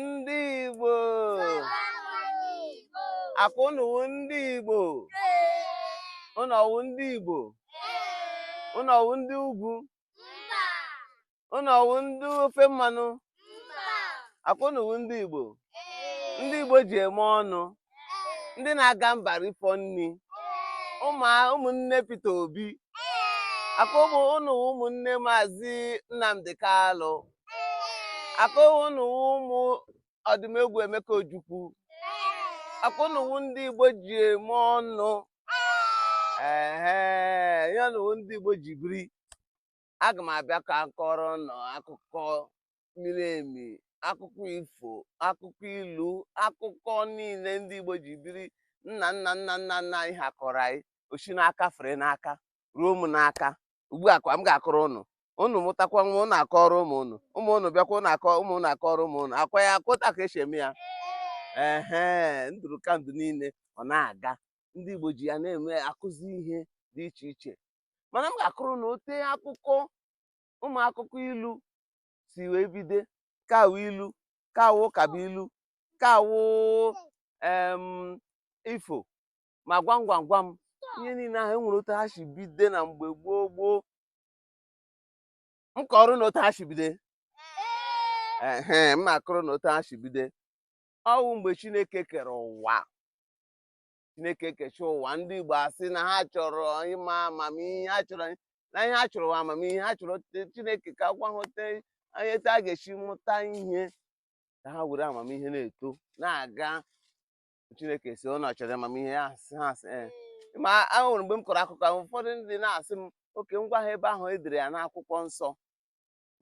ndị Igbo akwa unu wụ ndị Igbo unu ọwụ ndị Igbo unu ọwụ ndị ugwu unu ọwụ ndị ofe mmanụ akwa unu wụ ndị Igbo ndị Igbo ji eme ọnụ ndị na-aga mba rifọ nri ụmụnne Peter Obi akwa unu wụ ụmụnne maazị Nnamdi Kalụ akwa unu wụ ụmụ Odumegwu Emeka Ojukwu akwa unu wụ ndị Igbo ji eme ọnụ ehe unu wụ ndị Igbo ji biri aga m abịa ka m kọrọ unu akụkọ miri emi akụkọ ifo akụkọ ilu akụkọ niile ndị Igbo ji biri nna nna nna nna nna anyị ha kọrọ anyị o si n'aka fere n'aka ruo m n'aka ugbu a kwa m ga-akọrọ unu unu mụtakwa nwa unu akọrọ ụmụ unu ụmụ unu bịakwa unu akọ ụmụ unu akọrọ ụmụ unu akwa ya akọta ka esi eme ya ehe ndụdụgandụ niile ọ na-aga ndị Igbo ji ya na-eme akụzi ihe dị iche iche mana m ga-akọrọ unu ote akụkọ ụmụ akụkọ ilu si wee bido ka ọ wụ ilu ka ọ wụ ụkabụilu ka ọ wụ em ifo ma gwam gwam gwam ihe niile ahụ enwere otu ha si bido na mgbe gboo gboo m kọrọ unu otu ha si bido ehe m na-akọrọ unu otu ha si bido ọwụ mgbe chineke kere ụwa chineke ekecha ụwa ndị igbo asị na ha chọrọ ịma amamihe ha chọrọ na ihe ha chọrọ wụ amamihe ha chọrọ chineke ka ọ gwa ha ote ha ga-esi mụta ihe ka ha were amamihe na-eto na-aga chineke sị unu chọrọ amamihe ya asị ha asị eh. ma enwere mgbe m kọrọ akụkọ ụfọdụ ndị na-asị m okay m gwa ha ebe ahụ edere ya n'akwụkwọ nsọ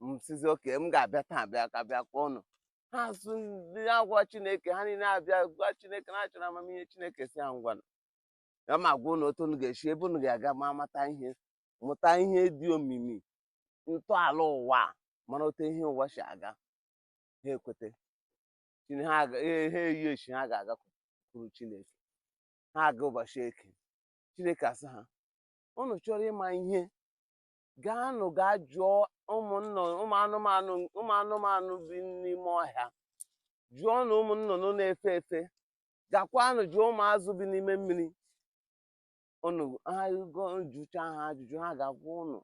m sịzị okay m ga-abịa taa bịa ka bịa gwa unu ha asụ ndị agwa chineke ha niile abịa gwa chineke na ha chọrọ amamihe chineke sị ha ngwa aga m agwa unu otu unu ga-esi ebe unu ga-aga ma mata ihe mụta ihe dị omimi ntọala ụwa a, mara otu ihe ụwa si aga ha ekweta Chine- ha aga- ha- ha eyi echi ha ga-agakwuru chineke ha aga ụbọchị eke chineke asị ha unu chọrọ ịma ihe gaanụ gaa jụọ ụmụ anụ ụmụ anụmanụ ụmụ anụmanụ bi n'ime ọhịa jụọnụ ụmụ nnụnụ na-efe efe gakwanụ jụọ ụmụ azụ bi n'ime mmiri unu ha go- jụcha ha ajụjụ ha ga-agwa unu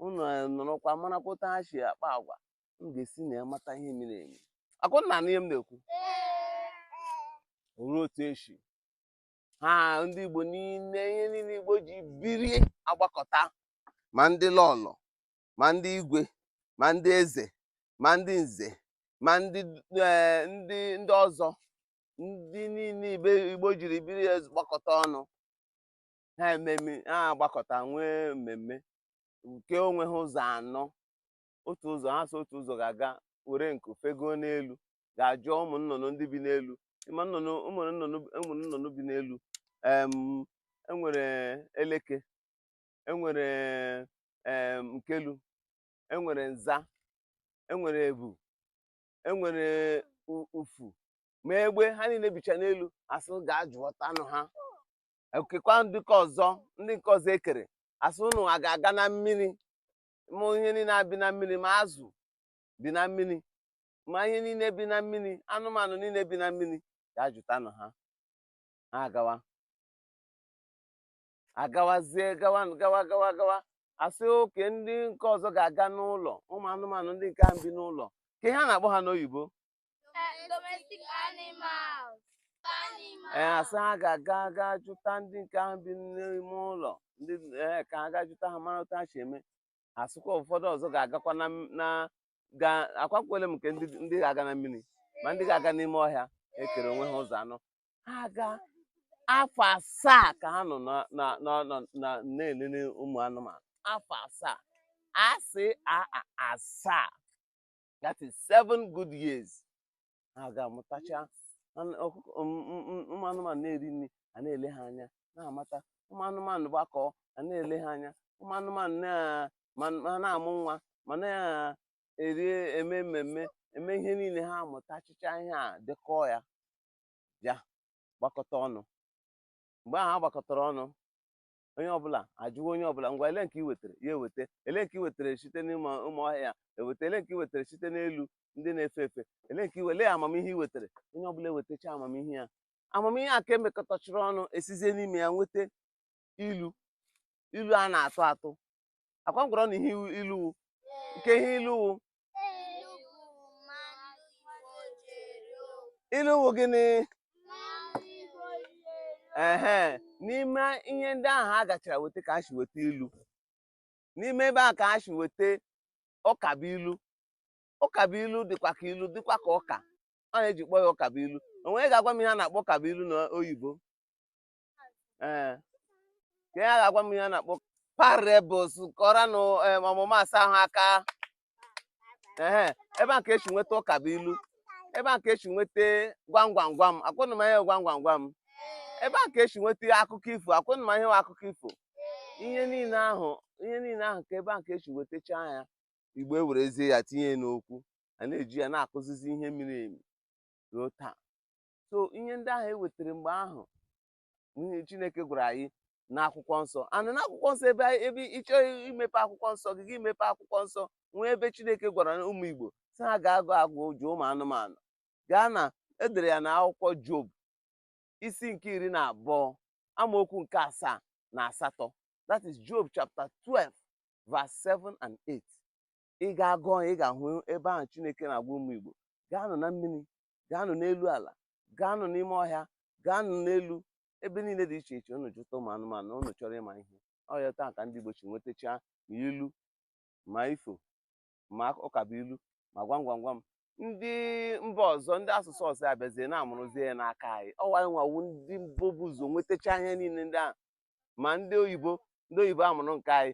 unu nọrọkwa marakwa otu ha si akpa agwa unu ga-esi na ya mata ihe miri emi akwa unu na-anụ ihe m na-ekwu ọwụ otu esi ha ndị Igbo niile ihe niile Igbo ji birie agbakọta ma ndị lọlọ ma ndị igwe ma ndị eze ma ndị nze ma ndị eh, ndị ndị ọzọ ndị niile Igbo jiri birie agbakọta ọnụ ha ememe ha agbakọta nwee mmemme nke onwe ha ụzọ anọ otu ụzọ ha sị otu ụzọ ga-aga were nku fegoo n'elu ga ajụọ ụmụ nnụnụ ndị bi n'elu ịma nnụnụ ụmụ nnụnụ ụmụ nnụnụ bi n'elu em, enwere eleke enwere em, nkelu enwere nza enwere ebu enwere u- ufu ma egbe ha niile bicha n'elu asị ga-ajụọtanụ ha ekekwa ndị nke ọzọ ndị nke ọzọ ekere asị ụnụwa ga-aga na mmiri ma ihe niile a bi na mmiri ma azụ bi na mmiri ma ihe niile bi na mmiri anụmanụ niile bi na mmiri ga jụtanụ ha ha agawa agawazie gawa gawa gawa gawa asị okay ndị nke ọzọ ga-aga n'ụlọ ụmụ anụmanụ ndị nke ahụ bi n'ụlọ kee ihe a na-akpọ ha n'oyibo domestic animals. ee asị ha ga-aga ga jụta ndị nke ahụ bi n'ime ụlọ ndị ee ka ha ga jụta ha mara otu ha si eme asịkwa ụfọdụ ọzọ ga-agakwa na m- na ga akọkwala m nke ndị ndị ga-aga na mmiri ma ndị ga-aga n'ime ọhịa ekere onwe ha ụzọ anọ ha aga afọ asaa ka ha nọ na- na- na- na- na- na-elele ụmụ anụmanụ afọ asaa asị a a- asaa that is seven good years ha ga-amụtacha anụ- ọkụkọ m- m- m- ụmụ anụmanụ na-eri nri a na-ele ha anya na-amata ụmụ anụmanụ gbakọọ a na-ele ha anya ụmụ anụmanụ na- ma ma na-amụ nwa ma na-eri eme mmemme eme ihe niile ha amụtachịchaa ihe a dekọọ ya bịa gbakọta ọnụ mgbe ahụ ha gbakọtara ọnụ onye ọbụla ajụwa onye ọbụla ngwa elee nke i wetara ya eweta elee nke i wetara site n'ụmụ ụmụ ọhịa ya eweta elee nke i wetara site n'elu ndị na-efe efe elee nke i we- elee amamihe i wetara onye ọbụla ewetacha amamihe ya amamihe a ka emekọtachịrị ọnụ esizie n'ime ya nweta ilu ilu a na-atụ atụ ọ kwa m gwara ụnụ ihe ilu wụ nke ihe ilu wụ ilu wụ gịnị ehe n'ime ihe ndị ahụ ha gachara weta ka ha si weta ilu n'ime ebe ahụ ka ha si weta ụkabụilu ụkabụilu dịkwa ka ilu dịkwa ka ụka ọ ya eji kpọọ ya ụkabụilu onye ga-agwa m ihe a na-akpọ ụkabụilu na oyibo ee ka ya ga-agwa m ihe a na-akpọ parables kụọranụ em, ọmụma asaa ahụ aka ehe ebe a ka e si nweta ụkabụilu ebe a ka e si nweta gwam gwam gwam ọ kwa ụnụ ma ihe gwam gwam gwam ebe a ka e si nweta akụkọ ifo ọ kwa ụnụ ma ihe wụ akụkọ ifo ihe niile ahụ ihe niile ahụ ka ebe a ka e si wetacha ya igbo ewerezie ya tinye ya n'okwu a na-eji ya na-akụzizi ihe miri emi ruo taa so ihe ndị ahụ e wetara mgbe ahụ ihe chineke gwara anyị n'akwụkwọ nsọ ana n'akwụkwọ nsọ ebe anyị- ebe ị chọọ imepe akwụkwọ nsọ gị gị mepe akwụkwọ nsọ nwee ebe chineke gwara ụmụ igbo sị ha gaa gaa jụọ ụmụ anụmanụ gaa na e dere ya na akwụkwọ job isi nke iri na abụọ amaokwu nke asaa na asatọ that is job chapter 12 verse 7 and 8 ị gaa gụọ ya, ị ga-ahụ ebe ahụ chineke na-agwa ụmụ igbo gaanụ na mmiri gaanụ n'elu ala gaanụ n'ime ọhịa gaanụ n'elu ebe niile dị iche iche unu jụta ụmụ anụmanụ unu chọrọ ịma ihe ọ etu a ka ndị Igbo si nwetachaa ma ilu ma ifo ma ụkabụilu ma gwam gwam gwam ndị mba ọzọ ndị asụsụ ọzọ abịazie na-amụrụzie ya n'aka anyị ọ wụ anyị nwa wụ ndị mbụ bu ụzọ nwetacha ihe niile ndị ahụ ma ndị oyibo ndị oyibo amụrụ nke anyị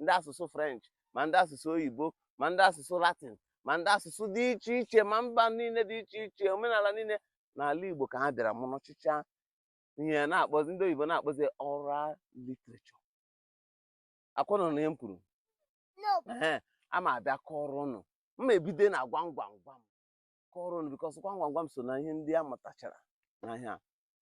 ndị asụsụ french ma ndị asụsụ oyibo ma ndị asụsụ latin ma ndị asụsụ dị iche iche ma mba niile dị iche iche omenala niile n'ala igbo ka ha bịara mụrụchịcha ihe a na-akpọzi ndị oyibo na-akpọzi oral literature ọ kwa ụnụ nụ ihe m kwuru ee a m abịa kọọrọ ụnụ m ma ebido na gwam gwam gwam kọọrọ ụnụ because gwam gwam gwam so na ihe ndị a mụtachara n'ọhịa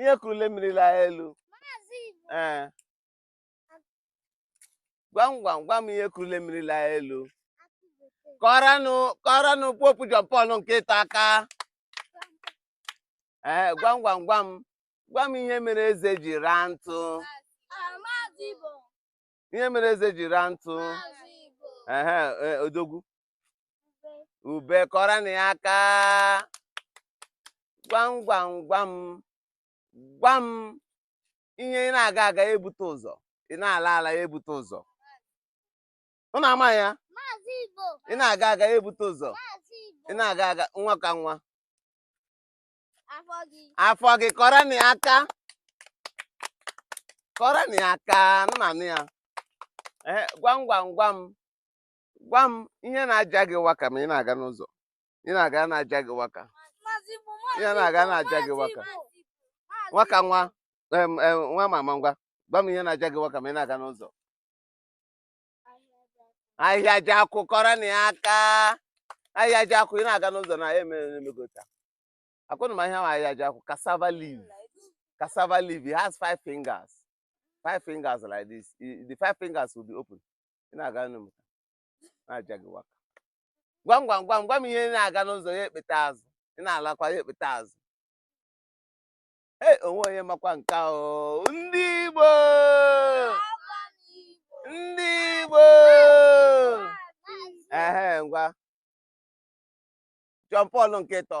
ihe kurule mmiri laa elu ee gwam gwam gwam ihe kurule mmiri laa elu kụọranụ kụọranụ Pope John Paul nke ịtọ aka ee gwam gwam gwam gwa m ihe mere eze ji raa ntụ ihe mere eze ji raa ntụ ee odogwu ube kụọrọnụ ya aka gwam gwam gwam gwa m ihe ị na-aga aga ya ebute ụzọ ị na-ala ala ya ebute ụzọ ụnụ ama ya ị na-aga aga ya ebute ụzọ ị na-aga aga nwa ka nwa Afọ gị. afọ gị kụọrọnụ ya aka kụọrọnụ ya aka ụnụ na-anụ ya ee gwam gwam gwam gwa m ihe na-aja gị waka ma ị na-aga n'ụzọ ị na-aga na-aja gị waka ihe na-aga na-aja gị waka nwaka nwa em, em, nwa mama ngwa gwa m ihe na-aja gị waka ma ị na-aga n'ụzọ ahịhịa ji akwụ kụọrọnụ ya aka ahịhịa ji akwụ ị na-aga n'ụzọ na ya emere emegota akwa ụnụ ma ahịhịa nwa ahịhịa ji akwụ cassava leaf cassava leaf it has five fingers five fingers like this I- the five fingers will be open ị na-aga nụ m na-aja gị waka gwa m gwa m gwa m gwa m ihe ị na-aga n'ụzọ ya ekpeta azụ ị na-alakwa ya ekpeta azụ ee o nweghị onye makwa nke a o ndị Igbo ndị Igbo ehe ngwa John Paul nke ịtọ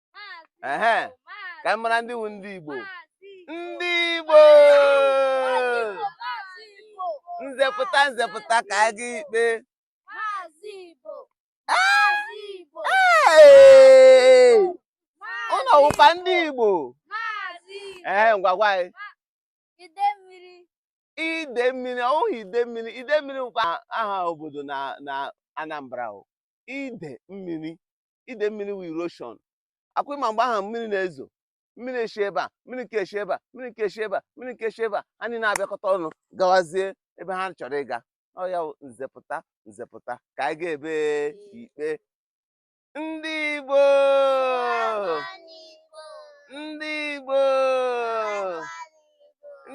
ehe ka m mara ndị wu ndị Igbo ndị Igbo nze pụta nze pụta ka anyị gaa ikpe ụnụ ọ wụkwa ndị Igbo ee ngwa gwa anyị ide mmiri ọ wụghị ide mmiri ide mmiri wụkwa aha obodo na Anambra ide mmiri ide mmiri wu erosion akwa ị ma mgbe ahụ mmiri na-ezo mmiri eshi ebe a mmiri nke eshi ebe a mmiri nke eshi ebe a mmiri nke eshi ebe a ha niile abịakọta ọnụ gawazie ebe ha chọrọ ịga ọ ya wụ nze pụta nze pụta ka anyị gaa ebe ikpe ndị Igbo ndị Igbo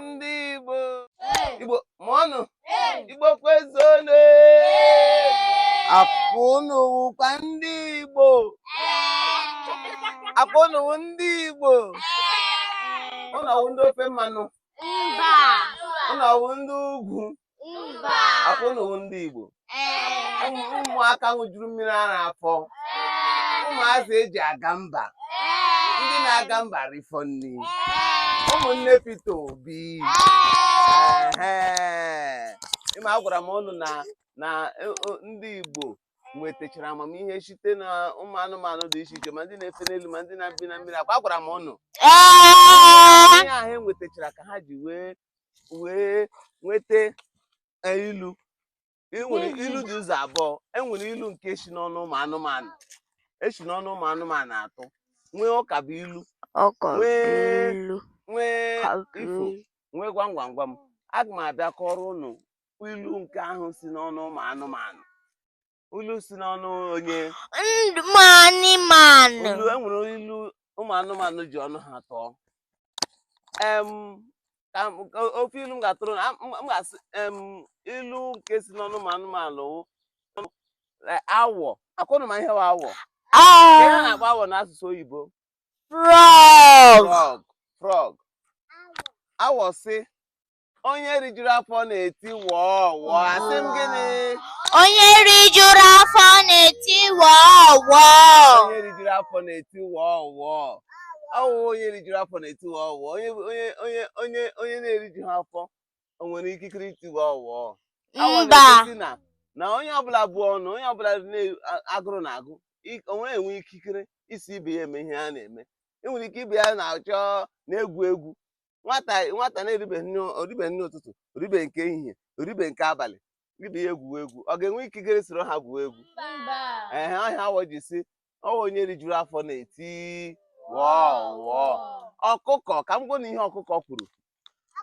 ndị Igbo Igbo mụọnụ Igbo kwezuonu akwa ụnụ wụkwa ndị Igbo akwa ụnụ wụ ndị Igbo ụnụ ọ wụ ndị ofe mmanụ ụnụ ọ wụ ndị ugwu akwa ụnụ wụ ndị Igbo ụmụaka ṅụjuru mmiri ara afọ ụmụazị e ji aga mba ndị na-aga mba rifọ nri ụmụnne Peter Obi ị ma agwara m ụnụ na na e, ndị Igbo nwetachara amamihe site na ụmụ anụmanụ dị iche iche ma ndị na-efe n'elu ma ndị na-ebi na mmiri akwa agwara m ụnụ ihe ahụ e nwetachara ka ha ji wee wee nweta e, ilu E nwere Mhm. ilu dị ụzọ abụọ e nwere ilu nke si n'ọnụ ụmụ anụmanụ e si n'ọnụ ụmụ anụmanụ atụ nwee ụkabụilu ọkọ Wee- ilu nwee ka ifo nwee gwam gwam gwam aga m abịa kọọrọ ụnụ ilu nke ahụ si n'ọnụ ụmụ anụmanụ ilu si n'ọnụ onye ụmụ anụmanụ ilu e nwere ilu ụmụ anụmanụ ji ọnụ ha tụọ em ka m- ka ofe ilu m ga-atụrụ ụnụ m m ga-asị em ilu nke si n'ọnụ ụmụ anụmanụ wụ, eh, awọ ọkwa ụnụ ma ihe wụ awọ Ka ihe a na-akpọ awọ n'asụsụ oyibo frog frog frog awọ sị onye rijuru afọ na-eti wọọ wọọ asị m gịnị onye rijuru afọ na-eti wọọ wọọ onye rijuru afọ na-eti wọọ wọọ ọwụ onye rijuru afọ na-eti wọọ wọọ onye onye onye onye onye na-erijuha afọ o nwere ikikere iti wọọ wọọ Awa mba na-egosi na na onye ọbụla bụ ọnụ onye ọbụla na- a- agụrụ na-agụ i- o nwere enwe ikikere iso ibe ya eme ihe a na-eme enwere ike ibe ya na-achọ na-egwu egwu nwata nwata na-eribe nri o ribe nri ụtụtụ o ribe nke ehihie o ribe nke abalị ibe ya egwuwe egwu ọ ga-enwe ikikere soro ha gwuo egwu ehe ọ ihe awọ ji sị ọwụ onye rijuru afọ na-eti wọọ wọọ ọkụkọ ka m gwa ụnụ ihe ọkụkọ kwuru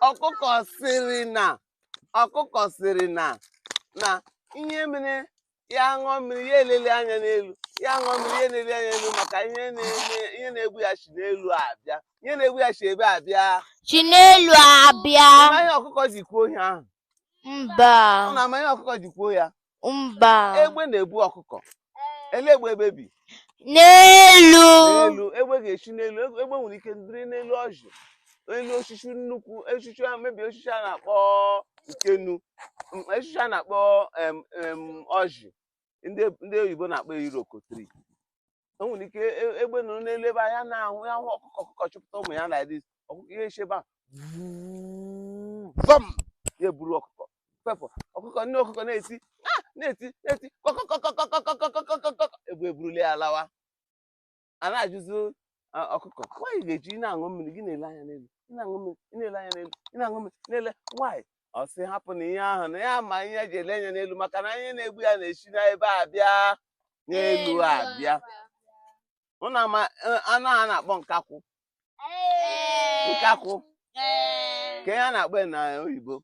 ọkụkọ sịrị na ọkụkọ sịrị na na ihe mere ya ṅụọ mmiri ya eleli anya n'elu ya ṅụọ mmiri ya eleli anya n'elu maka ihe na-eme ihe na-egbu ya si n'elu abịa ihe na-egbu ya si ebee abịa si n'elu abịa ma ihe ọkụkọ ji kwuo ihe ahụ mba ụnụ ama ihe ọkụkọ ji kwuo ya mba egbe na-ebu ọkụkọ ele ebe egbe bi n'elu n'elu egbe ga-esi n'elu egbe egbe nwere ike dịrị n'elu ọjị elu osisi nnukwu osisi a mebie osisi a na-akpọ ukenu m- osisi a na-akpọ em, em, ọjị ndị ndị oyibo na-akpọ iroko tree o nwere ike e- egbe nọrọ n'elu ebe anya na-ahụ ya hụ ọkụkọ ọkụkọ chịpụta ụmụ ya like this ọkụkọ ya esi ebe a vum ya eburu ọkụkọ fepụ ọkụkọ nne ọkụkọ na-eti "Ah!" na-eti na-eti kọkọkọkọkọkọkọkọkọkọ egbe eburule ya lawa a na-ajụzi ah, ọkụkọ why ị ga-eji ị na-aṅụ mmiri gị na-ele anya n'elu ị na-aṅụ mmiri ị na-ele anya n'elu ị na-aṅụ mmiri na-ele anya why ọ sị hapụ na ihe ahụ na ya ma ihe ya ji ele anya n'elu maka na ihe na-egbu ya na-esi n'ebee abịa n'elu abịa ụnụ ama eh, anụ a na-akpọ nkakwụ nkakwụ ka ihe a na-akpọ ya na oyibo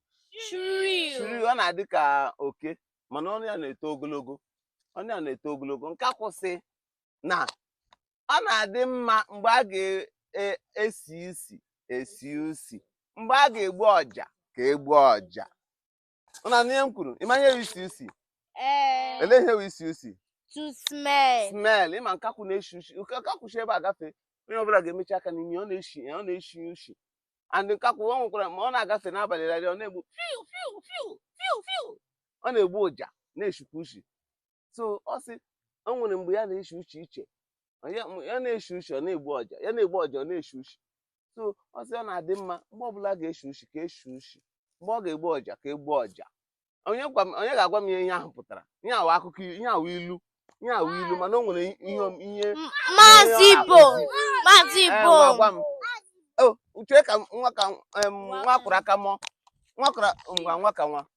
shrew ọ na-adị ka oke mana ọnụ ya na-eto ogologo ọnụ ya na-eto ogologo nkakwụ sị na ọ na-adị mma mgbe a ga-esi e, isi esi usi mgbe a ga-egbu ọja ka e gbuo ọja ụnụ anụ ihe m kwuru ị ma ihe isi usi ele ihe isi usi to smell smell ị ma nkakwụ na-esi usi nkakwụ si ebe a gafee onye ọbụla ga-emechi aka n'imi ọ na-esi ọ na-esi usi and nkakwụ ọ nwekwara ma ọ na-agafe n'abalị rarị ọ na-egbu fiu fiu fiu fiu fiu ọ na-egbu ọja na-esikwa usi so ọ sị o nwere mgbe ya na-eshi ushi iche ya ya na-eshi ushi ọ na-egbu ọja ya na-egbu ọja ọ na-eshi ushi so ọ sị ọ na-adị mma mgbe ọbụla a ga-eshi ushi ka e shi ushi mgbe ọ ga-egbu ọja ka e gbuo ọja onye gwa m- onye ga-agwa m ihe ihe ahụ pụtara ihe a wụ akụkọ ihe a wụ ilu ihe a wụ ilu mana o nwere ihe om- ihe Maazị Onye ọ Ibo, na-akụzi. Maazị Ee, Ibo. ngwa gwa m o uche ka m- nwa ka m- em, nwa a kwọrọ aka mụọ nwa a kwọrọ ngwa nwa ka nwa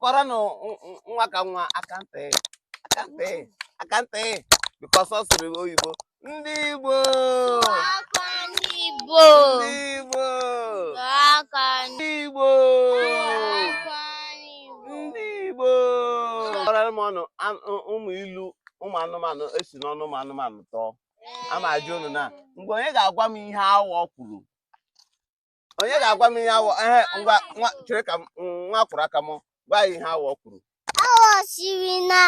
kụọrọnụ nwa ka nwa aka ntị aka ntị aka ntị because ọ sụrụ oyibo ndị Igbo ndị Igbo ndị Igbo ndị Igbo kọọrọ m nụ ụmụ ilu ụmụ anụmanụ e si n'ọnụ ụmụ anụmanụ tụọ ama ajụ unu na mgbe onye ga-agwa m ihe awọ kwuru onye ga-agwa m ihe awọ ehe ngwa nwa chere ka m nwa a kwọrọ aka mụọ gwa anyị ihe awọ kwuru Awọ sịrị na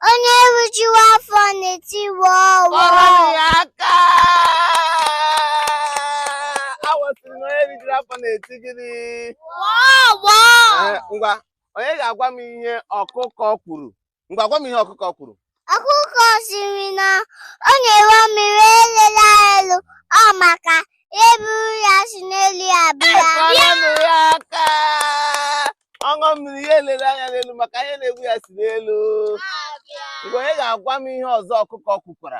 onye rijuwa afọ na-etiwa ọwọ. kụọrọnụ ya aka awọ sịrị na onye rijuru afọ na-eti gịnị Ọwọ. Ee, ngwa onye ga-agwa m ihe ọkụkọ kwuru ngwa gwa m ihe ọkụkọ kwuru ọkụkọ sịrị na ọ ṅụwa mmiri elela elu ọ maka ihe eburu ya si n'elu abịa Kụọrọnụ ya aka ọ ṅụọ mmiri ya elele anya n'elu maka ihe na-egbu ya si n'elu ngwa onye ga-agwa m ihe ọzọ ọkụkọ kwukwara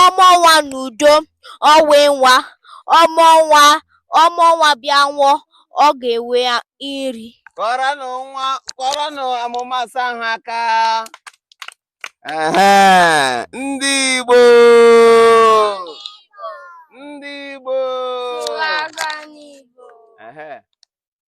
ọ mụọ nwa n'udo ọ wee nwa ọ mụọ nwa ọ mụọ nwa bịa nwụọ ọ ga-enwe nri kụọrọnụ nwa kụọrọnụ nwa ma asa ahụ aka Ehe, ndị Igbo ndị Igbo Ehe.